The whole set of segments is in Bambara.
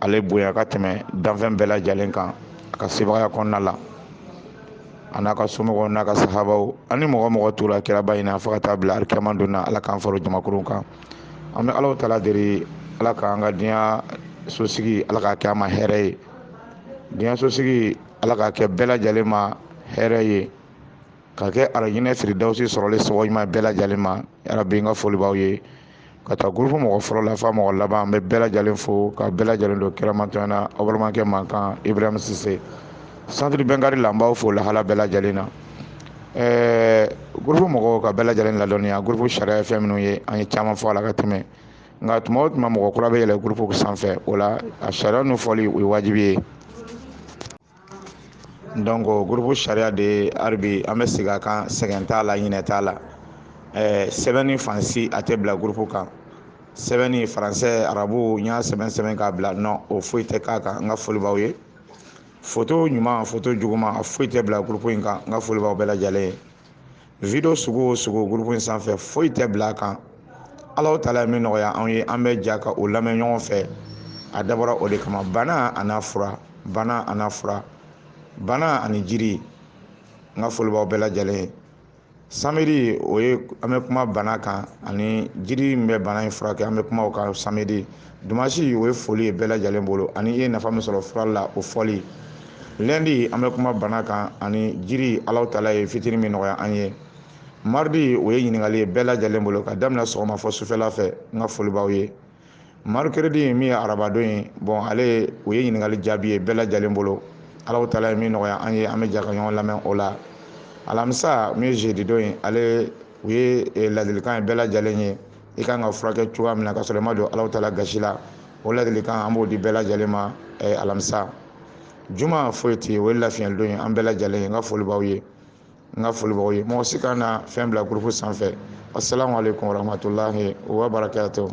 ale bonya ka tɛmɛ danfɛn bɛɛ lajɛlen kan a ka sebagaya kɔnɔna la a n'a ka somɔgɔw n'a ka sahabaw ani mɔgɔ o mɔgɔ tora kiraba in na fo ka taa bila alikiyama don na ala k'an fara o jamakulu kan an bɛ Alahu Taala deli ala k'an ka diɲɛso sigi ala k'a kɛ an ma hɛrɛ ye diɲɛso sigi ala k'a kɛ bɛɛ lajɛlen ma hɛrɛ ye k'a kɛ arijinɛ firidawusi sɔrɔli sababu ɲuman bɛɛ lajɛlen ma yarabi n ka foli b'aw ye ka taa gurupu mɔgɔ fɔlɔ la f'a mɔgɔ laban an bɛ bɛɛ lajɛlen fo ka bɛɛ lajɛlen don kiramatɔn na aw balimakɛ mankan ibrahim sise santiri bɛnkari la an b'aw fo lahala bɛɛ lajɛlen na ɛɛ gurupu mɔgɔw ka bɛɛ lajɛlen ladɔnniya gurupu sariya ye fɛn minnu ye an ye caman fɔ a la ka tɛmɛ nka tuma o tuma mɔgɔ kura bɛ yɛlɛ gurupu sanfɛ o la a sariya ninnu fɔli o ye wajibi ye donc gurupu sariya de hali bi an bɛ segin a kan sɛgɛn t'a la ɲinɛ t'a la eh, sɛbɛnni fan si a tɛ bila gurupu kan sɛbɛnni faransɛ arabu n y'a sɛbɛn sɛbɛn k'a bila non o foyi tɛ k'a kan n ka foli b'aw ye foto ɲuman foto juguman a foyi tɛ bila gurupu in kan n ka foli b'aw bɛɛ lajɛlen ye video sugu o sugu gurupu in sanfɛ foyi tɛ bila a kan Alahu Taala ye min nɔgɔya anw ye an bɛ jɛ ka o lamɛn ɲɔgɔn fɛ a dabɔra o de kama bana an'a fura bana an'a fura bana ani jiri n ka foli b'aw bɛɛ lajɛlen ye samedi o ye an bɛ kuma bana kan ani jiri min bɛ bana in furakɛ an bɛ kuma o kan samedi Dimanche o ye foli ye bɛɛ lajɛlen bolo ani i ye nafa min sɔrɔ fura la o fɔli. Lundi an bɛ kuma bana kan ani jiri Alahu Taala ye fitini min nɔgɔya an ye. Mardi o ye ɲininkali ye bɛɛ lajɛlen bolo ka daminɛ sɔgɔma fo sufɛla fɛ n ka foli b'aw ye. Mercredi min ye arabadon ye bon ale o ye ɲininkali jaabi ye bɛɛ lajɛlen bolo. Alahu Taala ye min nɔgɔya an ye an bɛ jɛ ka ɲɔgɔn lamɛn o la. Alamisa min ye jeudi don ye ale o ye eh, ladilikan ye bɛɛ lajɛlen ye i kan ka furakɛ cogoya min na ka sɔrɔ i ma don Alahu Taala gasi la o ladilikan an b'o di bɛɛ lajɛlen ma eh, alamisa juma foyi tɛ o ye lafiyɛli don ye an bɛɛ lajɛlen ye n ka foli b'aw ye n ka foli b'aw ye mɔgɔ si kana na fɛn bila gurupu sanfɛ asalaamu aleykum warahmatulahi wa barakatuhu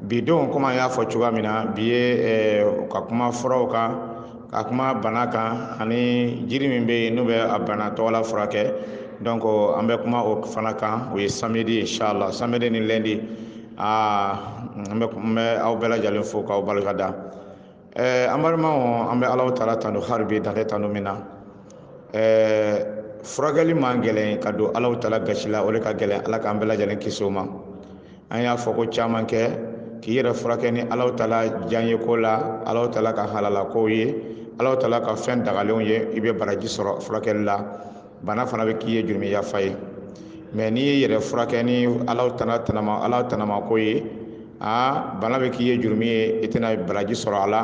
bi don komi an y'a fɔ cogoya min na bi ye eh, ka kuma furaw kan ka kuma bana kan ani jiri min bɛ yen n'u bɛ a bana tɔgɔla furakɛ donc an bɛ kuma o fana kan o ye samedi inshallah samedi ni lundi aa ah, n bɛ aw bɛɛ lajɛlen fo k'aw barika da ɛɛ an balimaw an bɛ Alahu Taala tando hali bi dan tɛ tando min na ɛɛ furakɛli man gɛlɛn ka don Alahu Taala gasi la o de ka gɛlɛn ala k'an bɛɛ lajɛlen kisi o ma an y'a fɔ ko caman kɛ k'i yɛrɛ furakɛ ni Alahu Taala diyaɲe ko la Alahu Taala ka halala kow ye Alahu Taala ka fɛn dagalenw ye i bɛ baraji sɔrɔ furakɛli la bana fana bɛ k'i ye jurumi yafa ye mɛ n'i y'i yɛrɛ furakɛ ni ala taala tanama ala tanama ko ye aa bana bɛ k'i ye jurumi ye i tɛna baraji sɔrɔ a la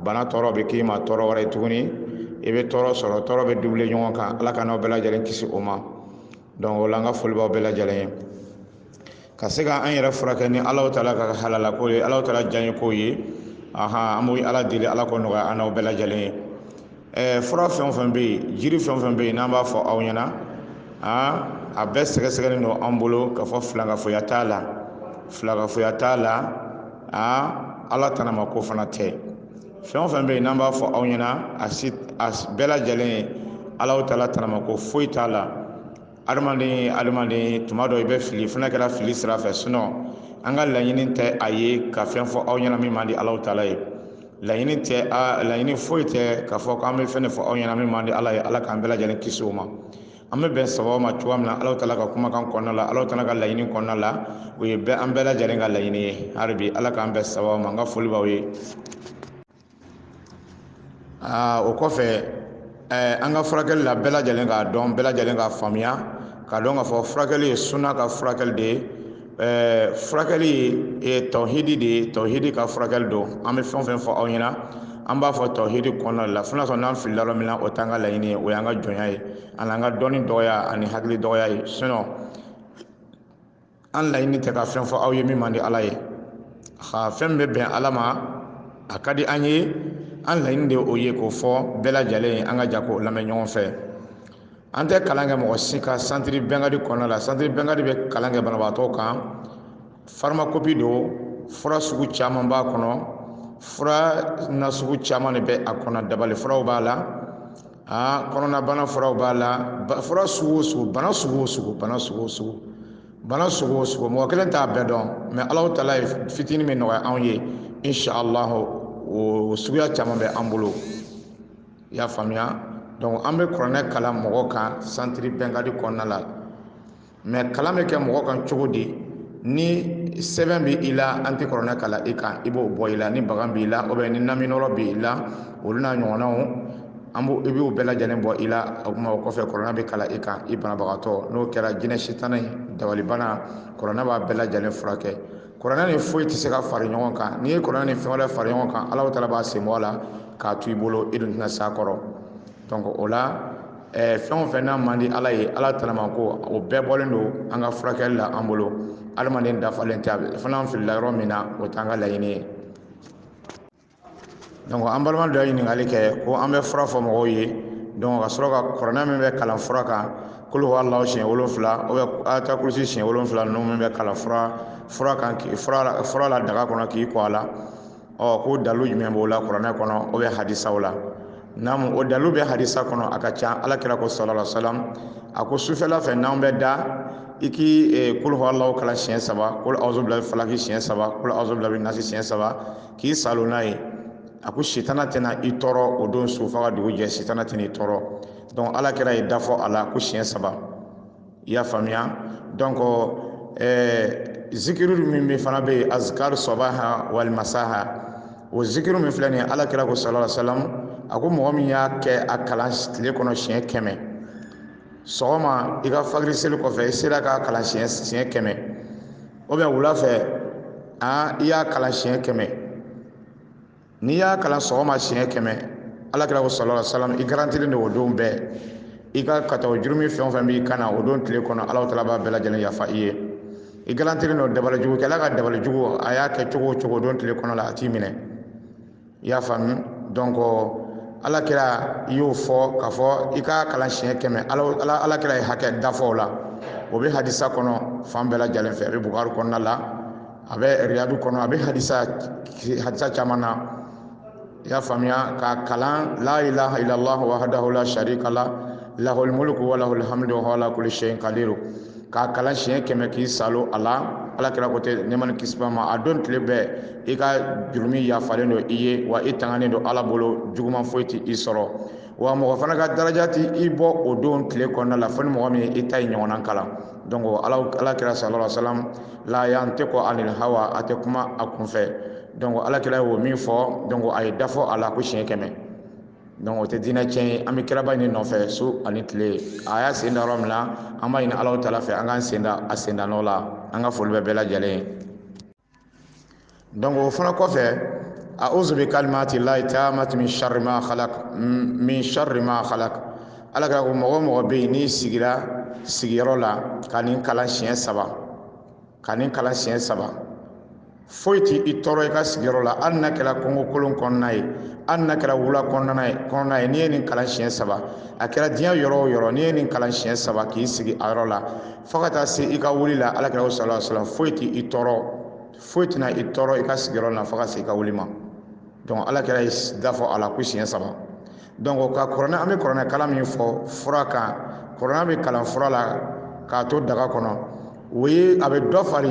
bana tɔɔrɔ bɛ k'i ma tɔɔrɔ wɛrɛ ye tuguni i bɛ tɔɔrɔ sɔrɔ tɔɔrɔ bɛ dubile ɲɔgɔn kan ala k'an n'aw bɛɛ lajɛlen kisi o ma donc o la an ka foli b'aw bɛɛ lajɛlen ye ka se ka an yɛrɛ furakɛ ni ala taala ka halala ko ye ala taala diya ko ye aha an bɛ ala deli ala k'o nɔgɔya an n'aw bɛɛ lajɛlen ye ɛɛ fura fɛn o fɛn bɛ yen jiri fɛn o fɛn bɛ yen n'an b'a fɔ aw ɲɛna aa a bɛɛ sɛgɛsɛgɛlen don an bolo k'a fɔ filankafoya t'a la filankafoya t'a la aa ala tanama ko fana tɛ fɛn o fɛn bɛ yen n'an b'a fɔ aw ɲɛna a si a bɛɛ lajɛlen ye ala taala tanama ko foyi t'a la adamaden adamaden tuma dɔ i bɛ fili fo n'a kɛra fili sira fɛ sinɔn an ka laɲini tɛ a ye ka fɛn fɔ aw ɲɛna min man di ala taala ye laɲini tɛ a laɲini foyi tɛ k'a fɔ k'an bɛ fɛn fɔ aw ɲɛna min man di ala ye ala k'an bɛɛ lajɛlen kisi o ma an bɛ bɛn sababu ma cogoya min na ala taala ka kumakan kɔnɔna la ala taala ka laɲini kɔnɔna la o ye ɛɛ an bɛɛ lajɛlen ka laɲini ye hali bi ala k'an bɛn sababu ma an ka foli b'aw ye aa o kɔfɛ ɛɛ an ka furakɛli la bɛɛ lajɛlen k'a dɔn bɛɛ lajɛlen k'a faamuya k'a dɔn k'a fɔ furakɛli ye suna ka furakɛli de ye ɛɛ furakɛli ye tɔhidi de ye tɔhidi ka furakɛli don an bɛ fɛn o fɛn fɔ aw ɲɛna an b'a fɔ tɔhidi kɔnɔna la fo n'a sɔrɔ n'an filila yɔrɔ min na o t'an ka laɲini ye o y'an ka jɔnya ye ani an ka dɔnni dɔgɔya ani hakili dɔgɔya ye sinɔn an laɲini tɛ ka fɛn fɔ aw ye min man di ala ye ha fɛn min bɛ bɛn ala ma a ka di an ye an laɲini de o ye k'o fɔ bɛɛ lajɛlen ye an ka jɛ k'o lamɛn ɲɔgɔn fɛ an tɛ kalan kɛ mɔgɔ si kan santiri bɛnkadi kɔnɔna la santiri bɛnkadi bɛ kalan kɛ banabaatɔ kan farmakopi don fura sugu caman b'a kɔnɔ fura nasugu caman de bɛ a kɔnɔ dabali furaw b'a la aa kɔnɔnabana furaw b'a la fura sugu o sugu bana sugu o sugu bana sugu o sugu bana sugu o sugu mɔgɔ kelen t'a bɛɛ dɔn mɛ alahu taala ye fitinin min nɔgɔya anw ye inshallah o suguya caman bɛ an bolo i y'a faamuya donc an bɛ kuranɛ kalan mɔgɔ kan santiri bɛnkadi kɔnɔna la mɛ kalan bɛ kɛ mɔgɔ kan cogo di ni sɛbɛn bɛ i la an tɛ kɔrɔnɛ kalan i kan i b'o bɔ i la ni bagan b'i la o bɛ ni naminɔrɔ bɛ i la olu n'a ɲɔgɔnnaw an b'o i b'o bɛɛ lajɛlen bɔ i la o kuma o kɔfɛ kɔrɔnɛ bɛ kalan i kan i banabagatɔ n'o kɛra jinɛ sitana ye dabalibana kɔrɔnɛ b'a bɛɛ lajɛlen furakɛ kɔrɔnɛ ni foyi tɛ se ka fara ɲɔgɔn kan n'i ye kɔrɔnɛ ni fɛn wɛrɛ fara ɲɔgɔn kan ala taala b'a sen bɔ a la k'a to i bolo i dun tɛna s'a kɔrɔ donc o la ɛɛ fɛn o fɛn n'a man di ala ye ala taala ma ko o bɛɛ bɔlen don an ka furakɛli la an bolo adamaden dafalen tɛ a bɛ fana an filila yɔrɔ min na o t'an ka laɲini ye donc an balima dɔ ye ɲininkali kɛ ko an bɛ fura fɔ mɔgɔw ye donc ka sɔrɔ ka kuranɛ min bɛ kalan fura kan kul huwa alahu siɲɛ wolonfila ou bien ayatul kursi siɲɛ wolonfila ninnu min bɛ kalan fura kan k'i fura la daga kɔnɔ k'i ko a la ɔ ko dalu jumɛn b'o la kuranɛ kɔnɔ o bɛ hadisaw la naamu o dalu bɛ hadisa kɔnɔ a ka ca ala kira ko sallallahu alaihi wasallam a ko sufɛla fɛ n'anw bɛ da i k'i eh, kul huwa alahu kalan siɲɛ saba kul awuzu birabil falaki siɲɛ saba kul awuzu birabi nasi siɲɛ saba k'i salo n'a ye a ko sitana tɛna i tɔɔrɔ o don su fo ka dugu jɛ sitana tɛna i tɔɔrɔ donc ala kira ye da fɔ a la ko siɲɛ saba i y'a faamuya donc ɛɛ zikiri min bɛ fana bɛ yen azikari sabaha wal masaha o zikiri min filɛ nin ye ala kira ko sallallahu alaihi wasallam a ko mɔgɔ min y'a kɛ a kalan tile kɔnɔ siɲɛ kɛmɛ sɔgɔma i ka fajiri seli kɔfɛ i sera k'a kalan siɲɛ siɲɛ kɛmɛ ou bien wula fɛ aa i y'a kalan siɲɛ kɛmɛ n'i y'a kalan sɔgɔma siɲɛ kɛmɛ ala kira ko sallallahu alaihi wasallam i garantilen don o don bɛɛ i ka kataw jurumi fɛn o fɛn b'i kan na o don tile kɔnɔ ala taala b'a bɛɛ lajɛlen yafa i ye i garantilen don dabali jugu kɛla ka dabali jugu a y'a kɛ cogo o cogo don tile kɔnɔ la a t'i minɛ i y'a faamu donc ala kira i y'o fɔ k'a fɔ i k'a kalan siɲɛ kɛmɛ ala kira ye hakɛ da fɔ o la o bɛ hadisa kɔnɔ fan bɛɛ lajɛlen fɛ a bɛ bukari kɔnɔna la a bɛ riyadu kɔnɔ a bɛ hadisa caman na i y'a faamuya k'a kalan la ilaha illallah wahdahu la sharika la lahul mulku wa lahul hamdu wa ala kulli shay'in qadir k'a kalan siɲɛ kɛmɛ k'i salo a la ala kira ko tɛ nɛmani kisiba ma a don tile bɛɛ i ka jurumi yafalen don i ye wa i tanganen don ala bolo juguman foyi tɛ i sɔrɔ wa mɔgɔ fana ka daraja tɛ i bɔ o don tile kɔnɔna la fo ni mɔgɔ min ye i ta ye ɲɔgɔnna kalan donc ala kira sallallahu alaihi wasallam la yantiku anil hawa a tɛ kuma a kunfɛ donc ala kira y'o min fɔ donc a ye da fɔ a la ko siɲɛ kɛmɛ donc o tɛ diinɛ tiɲɛ ye an bɛ kiraba nin nɔfɛ su ani tile a y'a sen da yɔrɔ min na an b'a ɲini alahu taala fɛ an k'an sen da a sen da nɔ la an ka foli bɛ bɛɛ lajɛlen ye donc o fana kɔfɛ awuzu bi kalimati lahi taamati min sari ma halak ala kira ko mɔgɔ o mɔgɔ bɛ yen n'i sigira sigiyɔrɔ la ka nin kalan siɲɛ saba foyi tɛ i tɔɔrɔ i ka sigiyɔrɔ la hali n'a kɛra kongo kolon kɔnɔna ye hali n'a kɛra wula kɔnɔna ye n'i ye nin kalan siɲɛ saba a kɛra diɲɛ yɔrɔ o yɔrɔ n'i ye nin kalan siɲɛ saba k'i sigi a yɔrɔ la fo ka taa se i ka wuli la alakira ko sala sala foyi tɛ i tɔɔrɔ foyi tɛna i tɔɔrɔ i ka sigiyɔrɔ na fo ka se i ka wuli ma donc alakira ye da fɔ a la ko siɲɛ saba donc ka kuranɛ an bɛ kuranɛ kalan min fɔ fura kan kuranɛ bɛ kalan fura la k'a to daga kɔnɔ o ye a bɛ dɔ fara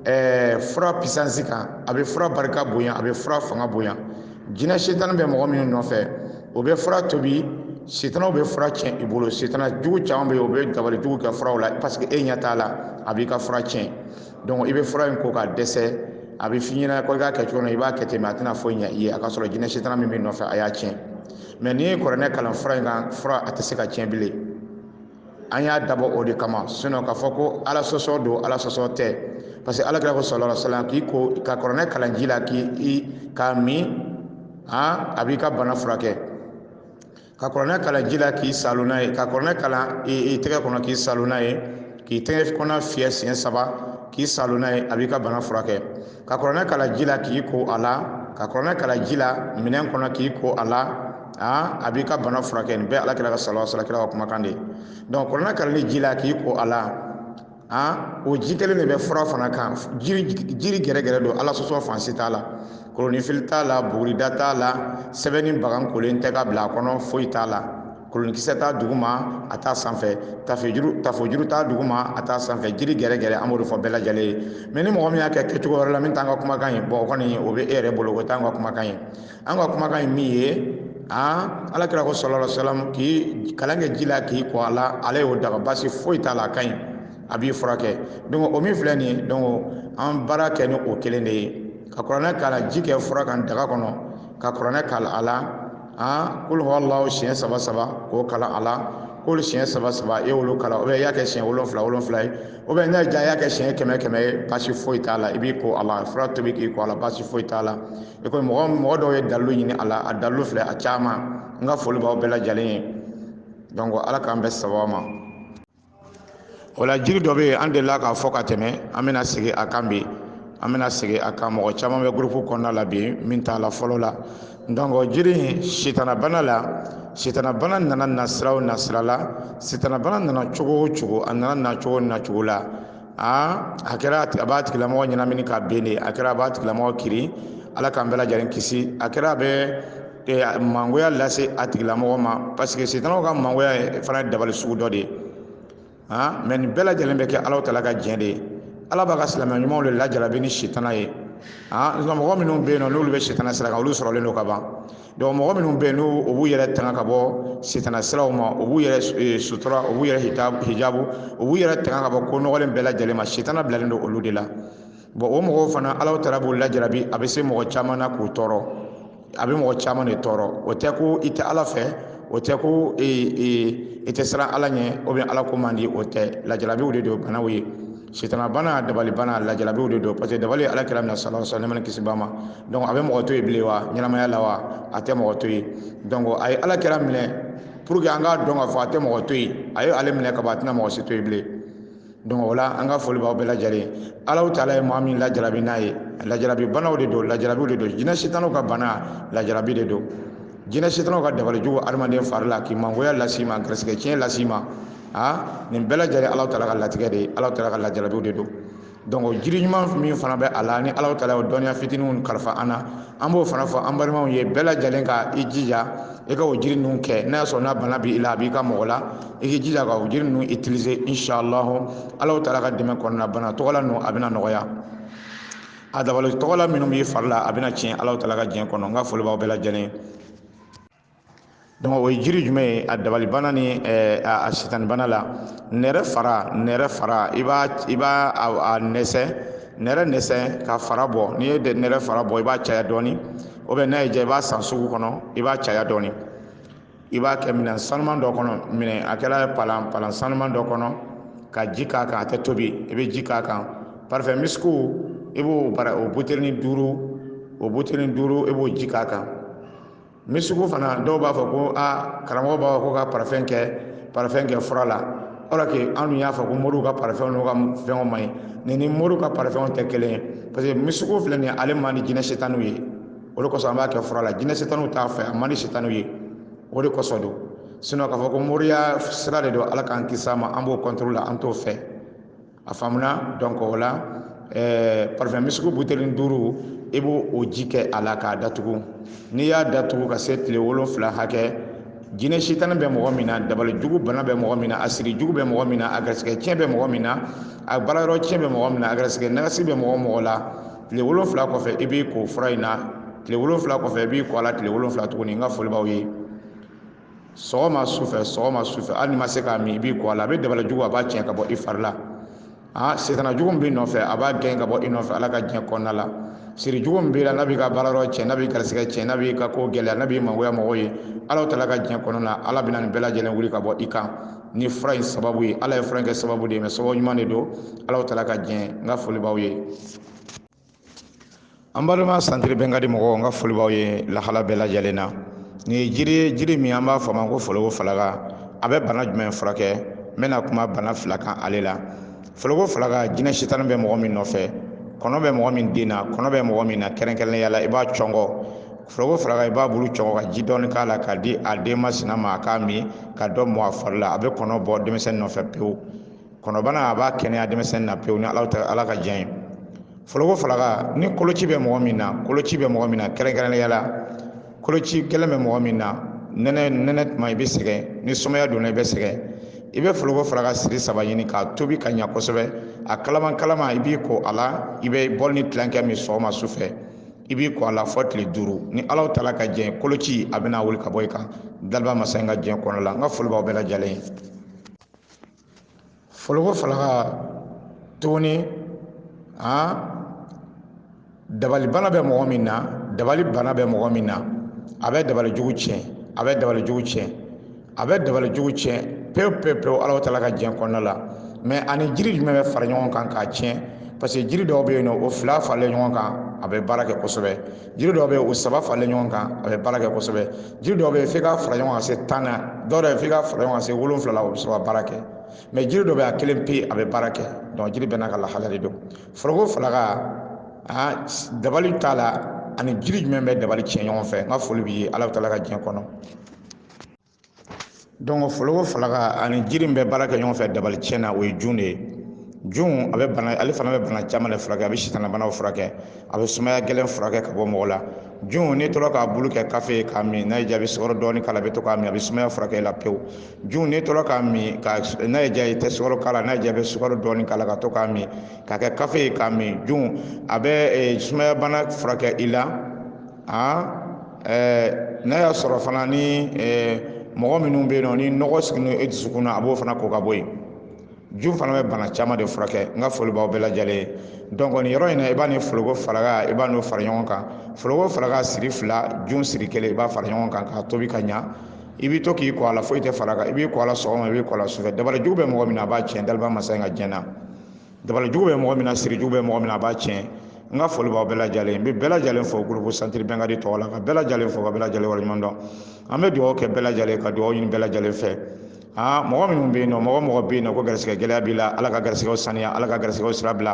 ɛɛ fura pisansi kan a bɛ fura barika bonya a bɛ fura fanga bonya jinɛ sitani bɛ mɔgɔ minnu nɔfɛ o bɛ fura tobi sitanaw bɛ fura tiɲɛ i bolo sitana jugu caman bɛ yen o bɛ dabali jugu kɛ furaw la parce que e ɲɛ t'a la a b'i ka fura tiɲɛ donc i bɛ fura in ko ka dɛsɛ a bɛ f'i ɲɛna ko i k'a kɛ cogo min na i b'a kɛ ten mais a tɛna foyi ɲɛ i ye a ka sɔrɔ jinɛ sitana min b'i nɔfɛ a y'a tiɲɛ mais n'i ye kɔrɔnɛ kalan fura in kan fura a tɛ se ka tiɲɛ bilen an y'a dabɔ o de kama sinon k'a fɔ ko ala sɔsɔ don ala sɔsɔ tɛ parce que alakira ko sala sala k'i ko ka kɔrɔnɛ kalan ji la k'i k'a min a a b'i ka bana furakɛ ka kɔrɔnɛ kalan ji la k'i saalo n'a ye ka kɔrɔnɛ kalan i tɛgɛ kɔnɔ k'i saalo n'a ye k'i tɛgɛ kɔnɔ fiyɛ siɲɛ saba k'i saalo n'a ye a b'i ka bana furakɛ ka kɔrɔnɛ kalan ji la k'i ko a la ka kɔrɔnɛ kalan ji la minɛn kɔnɔ k'i ko a la a b'i ka bana furakɛ nin bɛɛ alakira ka salawa sala kira ka kumakan de donc kɔrɔnɛ kalanni ji la k'i ko a la a o ji kelen de bɛ fura fana kan jiri gɛrɛgɛrɛ don ala sɔsɔ fan si t'a la kolonifili t'a la bugurida t'a la sɛbɛnni bagan kolen tɛ ka bila a kɔnɔ foyi t'a la kolonkisɛ t'a duguma a t'a sanfɛ tafojuru t'a duguma a t'a sanfɛ jiri gɛrɛgɛrɛ an b'o de fɔ bɛɛ lajɛlen ye mais ni mɔgɔ min y'a kɛ kɛcogo wɛrɛ la min t'an ka kumakan ye bon o kɔni o bɛ e yɛrɛ bolo o t'an ka kumakan ye an ka kumakan ye min ye alakira ko sɔlɔ salam k'i kalan kɛ ji la k'i ko a la ale y'o daga basi foyi t'a la a ka ɲi a b'i furakɛ donc o min filɛ nin ye donc an baara kɛ ni o kelen de ye ka kuranɛ kalan ji kɛ fura kan daga kɔnɔ ka kuranɛ kalan a la an kul huwa allahu siɲɛ saba saba k'o kalan a la k'olu siɲɛ saba saba e y'olu kalan ou bien i y'a kɛ siɲɛ wolonfila wolonfila ye ou bien n'a ja i y'a kɛ siɲɛ kɛmɛ kɛmɛ ye baasi foyi t'a la i b'i ko a la fura tobi k'i ko a la baasi foyi t'a la i komi mɔgɔ dɔw ye dalilu ɲini a la a dalilu filɛ a caman n ka foli b'aw bɛɛ lajɛlen ye donc ala k'an bɛn sababu ma o la jiri dɔ bɛ yen an delila k'a fɔ ka tɛmɛ an bɛna segin a kan bi an bɛna segin a kan mɔgɔ caman bɛ gurupu kɔnɔna la bi min t'a la fɔlɔ la donc jiri in sitanabana la sitanabana nana nasira o nasira la sitanabana nana cogo o cogo a nana na cogo na cogo la aa a kɛra a b'a tigilamɔgɔ ɲɛnamini k'a ben de a kɛra a b'a tigilamɔgɔ kiri ala k'an bɛɛ lajɛlen kisi a kɛra a bɛ mangoya lase a tigilamɔgɔ ma parce que sitanaw ka mangoya fana ye dabali sugu dɔ de ye han mais nin bɛɛ lajɛlen bɛ kɛ ala taala ka diɲɛ de ye ala b'a ka silamɛ ɲumanw de lajarabi ni sitana ye han nka mɔgɔ minnu bɛ yen nɔ n'olu bɛ sitana sira kan olu sɔrɔlen don ka ban donc mɔgɔ minnu bɛ yen n'u u b'u yɛrɛ tanga ka bɔ sitana siraw ma u b'u yɛrɛ sutura u b'u yɛrɛ hijabu u b'u yɛrɛ tanga ka bɔ ko nɔgɔlen bɛɛ lajɛlen ma sitana bilalen don olu de la bon o mɔgɔw fana ala taala b'u lajarabi a bɛ se mɔgɔ caman na k'u tɔɔrɔ a bɛ mɔgɔ caman de tɔɔrɔ o tɛ ko i tɛ ala fɛ o tɛ ko e, e, i tɛ siran ala ɲɛ ou bien ala ko man di o tɛ lajarabiw de don banaw ye sitana bana dabali bana lajarabiw de don parce que dabali ala kira minɛ sala sa nɛɛma ni kisi b'a ma donc a bɛ mɔgɔ to yen bilen wa ɲɛnamaya la wa a tɛ mɔgɔ to yen donc a ye ala kira minɛ pour que an k'a dɔn k'a fɔ a tɛ mɔgɔ to yen a ye ale minɛ ka ban a tɛna mɔgɔ si to yen bilen donc o la an ka foli b'aw bɛɛ lajɛlen alahu taala ye maa min lajarabi n'a ye lajarabi banaw de don lajarabiw de don jinɛ sitanaw ka bana lajarabi de don jinɛ sitanaw ka dabali jugu adamaden fari la k'i mangoya las'i ma garisigɛ tiɲɛ las'i ma a nin bɛɛ lajɛlen alahu taala ka latigɛ de ye alahu taala ka lajarabiw de don donc jiri ɲuman min fana bɛ a la ni alahu taala y'o dɔnniya fitiniw kalifa an na an b'o fana fɔ an balimaw ye bɛɛ lajɛlen ka i jija i ka o jiri ninnu kɛ n'a y'a sɔrɔ n'a bana b'i la a b'i ka mɔgɔ la i k'i jija ka o jiri ninnu utiliser inshallahu alahu taala ka dɛmɛ kɔnɔna bana tɔgɔla ninnu a bɛna nɔgɔya a dabali tɔgɔla minnu b'i fari la a bɛna tiɲɛ alahu taala ka diɲɛ kɔnɔ n ka foli b'aw bɛɛ lajɛlen donc o ye jiri jumɛn ye a dabali bana ni eh, a sitani bana la nɛrɛ fara nɛrɛ fara i b'a i b'a a nɛsɛ nɛrɛ nɛsɛ ka fara bɔ n'i ye nɛrɛ fara bɔ i b'a caya dɔɔni ou bien n'a y'i diya i b'a san sugu kɔnɔ i b'a caya dɔɔni i b'a kɛ minɛn sanuman dɔ kɔnɔ minɛn a kɛra palan palan sanuman dɔ kɔnɔ ka ji k'a kan a tɛ tobi i bɛ ji k'a kan parifɛn misiku i b'o bara o buteli duuru o buteli duuru i b'o ji k'a kan misiku fana dɔw b'a fɔ ko aa karamɔgɔ b'a fɔ ko ka parifɛn kɛ parifɛn kɛ fura la or que an dun y'a fɔ ko moriw ka parifɛnw n'u ka fɛnw man ɲi nin ni moriw ka parifɛnw tɛ kelen ye parce que misiku filɛ nin ye ale man di jinɛ sitaniw ye o de kosɔn an b'a kɛ fura la jinɛ sitaniw t'a fɛ a man di sitaniw ye o de kosɔn don sinon k'a fɔ ko moriya sira de don ala k'an kisi a ma an b'o contre la an t'o fɛ a faamuna donc o la ɛɛ parifɛn misiku buteli duuru i b'o o ji kɛ a la k'a datugu n'i y'a datugu ka se tile wolonfila hakɛ jinɛ sitani bɛ mɔgɔ min na dabali jugu bana bɛ mɔgɔ min na a siri jugu bɛ mɔgɔ min na a garisigɛ tiɲɛ bɛ mɔgɔ min na a baarayɔrɔ tiɲɛ bɛ mɔgɔ min na a garisigɛ nagasi bɛ mɔgɔ mɔgɔ la tile wolonwula kɔfɛ i b'i ko fura in na tile wolonwula kɔfɛ i b'i ko a la tile wolonwula tuguni n ka foli b'aw ye sɔgɔma sufɛ sɔgɔma sufɛ hali n'i ma se k'a min i b'i ko a la a bɛ dabali jugu a b'a tiɲɛ ka bɔ i fari la aa sitana jugu b'i nɔfɛ a b'a gɛn ka bɔ i nɔfɛ ala ka diɲɛ kɔnɔna la siri jugu b'i la n'a b'i ka baara yɔrɔ tiɲɛ n'a b'i garisigɛ tiɲɛ n'a b'i ka ko gɛlɛya n'a b'i mangoya mɔgɔw ye ala taala ka diɲɛ kɔnɔna la ala bɛna nin bɛɛ lajɛlen wuli ka bɔ i kan ni fura in sababu ye ala ye fura in kɛ sababu de ye mais sababu ɲuman de don ala taala ka diɲɛ n ka foli b'aw ye an balima santiri bɛnkadi mɔgɔw n ka foli b'aw ye lahala bɛɛ lajɛlen na nin ye jiri ye jiri min an b'a fɔ a ma ko foloko falaka a bɛ bana jumɛn furakɛ n bɛna kuma bana fila kan ale la foloko falaka jinɛ sitani bɛ mɔgɔ min nɔfɛ kɔnɔ bɛ mɔgɔ min den na kɔnɔ bɛ mɔgɔ min na kɛrɛnkɛrɛnnenya la i b'a cɔngɔ foloko falaka i b'a bulu cɔngɔ ka ji dɔɔni k'a la k'a di a den masina ma a k'a min ka dɔ mɔ a fari la a bɛ kɔnɔ bɔ denmisɛnnin nɔfɛ pewu kɔnɔbana a b'a kɛnɛya denmisɛnnin na pewu ni ala taala ka diɲɛ ye foloko falaka ni koloci bɛ mɔgɔ min na koloci bɛ mɔgɔ min na kɛrɛnkɛrɛnnenya la koloci gɛlɛn bɛ mɔgɔ min na nɛnɛ nɛnɛ tuma i bɛ sɛgɛn ni sumaya donna i bɛ sɛgɛn i bɛ foloko falaka siri saba ɲini k'a tobi ka ɲa kosɛbɛ a kalaman kalaman i b'i ko a la i bɛ bɔli ni tilankɛ min sɔgɔma su fɛ i b'i ko a la fɔ tile duuru ni ala taala ka diɲɛ koloci a bɛna wuli ka bɔ i kan daliba masa in ka diɲɛ kɔnɔ la n ka foli b'aw bɛɛ lajɛlen foloko falaka tuguni a dabali bana bɛ mɔgɔ min na dabali bana bɛ mɔgɔ min na a bɛ dabali jugu tiɲɛ a bɛ dabali jugu tiɲɛ a bɛ dabali jugu tiɲɛ pewu pewu pewu alahu taala ka diɲɛ kɔnɔna la mais ani jiri jumɛn bɛ fara ɲɔgɔn kan k'a tiɲɛ parce que jiri dɔw bɛ yen nɔ o fila faralen ɲɔgɔn kan a bɛ baara kɛ kosɛbɛ jiri dɔw bɛ yen o saba faralen ɲɔgɔn kan a bɛ baara kɛ kosɛbɛ jiri dɔ bɛ yen f'i ka fara ɲɔgɔn kan se tan na dɔw yɛrɛ f'i ka fara ɲɔgɔn kan se wolonwula la o bɛ sɔrɔ ka baara kɛ mais jiri dɔ bɛ a kelen pe a bɛ baara kɛ donc jiri bɛɛ n'a ka lahala de don foloko falaka aa dabali ta la ani jiri jumɛn bɛ dabali tiɲɛ ɲɔgɔn fɛ n ka foli b'i ye alahu taala ka diɲɛ kɔnɔ donc foloko falaka ani jiri min bɛ baara kɛ ɲɔgɔn fɛ dabali tiɲɛ na o ye jun de ye jun a bɛ bana ale fana bɛ bana caman de furakɛ a bɛ sitanabanaw furakɛ a bɛ sumaya gɛlɛn furakɛ ka bɔ mɔgɔ la jun n'i tora k'a bulu kɛ kafe ye k'a min n'a y'i diya i bɛ sukaro dɔɔni k'a la i bɛ to k'a min a bɛ sumaya furakɛ i la pewu jun n'i tora k'a min ka n'a y'i diya i tɛ sukaro k'a la n'a y'i diya i bɛ sukaro dɔɔni k'a la ka to k'a min k'a kɛ kafe ye k'a min jun a bɛ eh, sumaya bana furakɛ i la aa n'a y'a sɔrɔ fana ni mɔgɔ minnu bɛ yen nɔ ni nɔgɔ sigilen don e dusukun na a b'o fana ko ka bɔ yen jun fana bɛ bana caman de furakɛ n ka foli b'aw bɛɛ lajɛlen ye donc nin yɔrɔ in na i b'a ni foloko falaka i b'a n'o fara ɲɔgɔn kan foloko falaka siri fila jun siri kelen i b'a fara ɲɔgɔn kan k'a tobi ka ɲa i bɛ to k'i ko a la foyi tɛ fara a kan i b'i ko a la sɔgɔma i b'i ko a la sufɛ dabali jugu bɛ mɔgɔ min na a b'a tiɲɛ daliba masa in ka jɛn na dabalijugu bɛ mɔgɔ min na sirijugu bɛ mɔgɔ min na a b'a tiɲɛ n ka foli b'aw bɛɛ lajɛlen n bɛ bɛɛ lajɛlen fo gurupu santiri bɛnkadi tɔgɔ la ka bɛɛ lajɛlen fo ka bɛɛ lajɛlen waleɲuman dɔn an bɛ dugawu kɛ bɛɛ lajɛlen ka dugawu ɲini bɛɛ lajɛlen fɛ aa mɔgɔ minnu bɛ yen nɔ mɔgɔ o mɔgɔ bɛ yen nɔ ko garisigɛ gɛlɛya b'i la ala ka garisigɛw saniya ala ka garisigɛw sira bila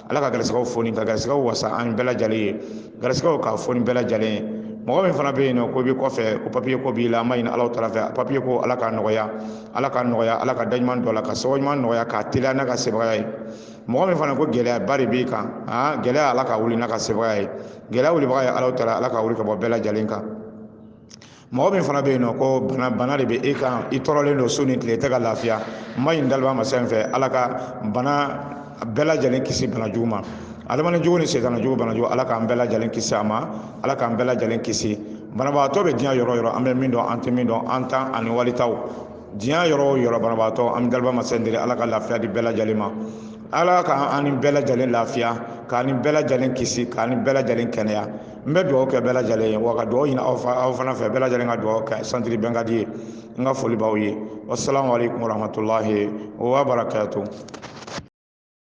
ala ka garisigɛw foni ka garisigɛw wasa an bɛɛ lajɛlen ye garisigɛw k'a foni bɛɛ lajɛlen ye mɔgɔ min fana bɛ yen nɔ ko i bɛ kɔfɛ ko papiye ko b'i la an b'a ɲini alahu taala fɛ papiye ko ala k'a nɔgɔya ala k'a nɔgɔya ala ka daɲuman dɔ la ka sababu ɲuman nɔgɔya k'a teliya n'a ka sebagaya ye mɔgɔ min fana ko gɛlɛyaba de b'i kan aa gɛlɛya ala k'a wuli n'a ka sebagaya ye gɛlɛya wulibaga ye alahu taala ala k'a wuli ka bɔ bɛɛ lajɛlen kan mɔgɔ min fana bɛ yen nɔ ko bana bana de bɛ e kan i tɔɔrɔlen don su ni tile tɛ ka lafiya n b'a ɲini daliba masa in fɛ ala ka bana bɛɛ lajɛlen kisi bana jugu ma adamaden jugu ni sitanɛ jugu bana jugu ala k'an bɛɛ lajɛlen kisi a ma ala k'an bɛɛ lajɛlen kisi banabagatɔ bɛ diɲɛ yɔrɔ o yɔrɔ an bɛ min dɔn an tɛ min dɔn an taw ani wali taw diɲɛ yɔrɔ o yɔrɔ banabagatɔ an bɛ daliba masa in deli ala ka lafiya di bɛɛ lajɛlen ma ala k'an ni bɛɛ lajɛlen lafiya k'an ni bɛɛ lajɛlen kisi k'an ni bɛɛ lajɛlen kɛnɛya n bɛ dugawu kɛ bɛɛ lajɛlen ye wa ka dugawu ɲini aw fana fɛ bɛɛ lajɛlen ka dugawu kɛ santiri bɛnkadi ye n ka foli b'aw ye wasalaamu aleykum warahmatulahi wa barakatu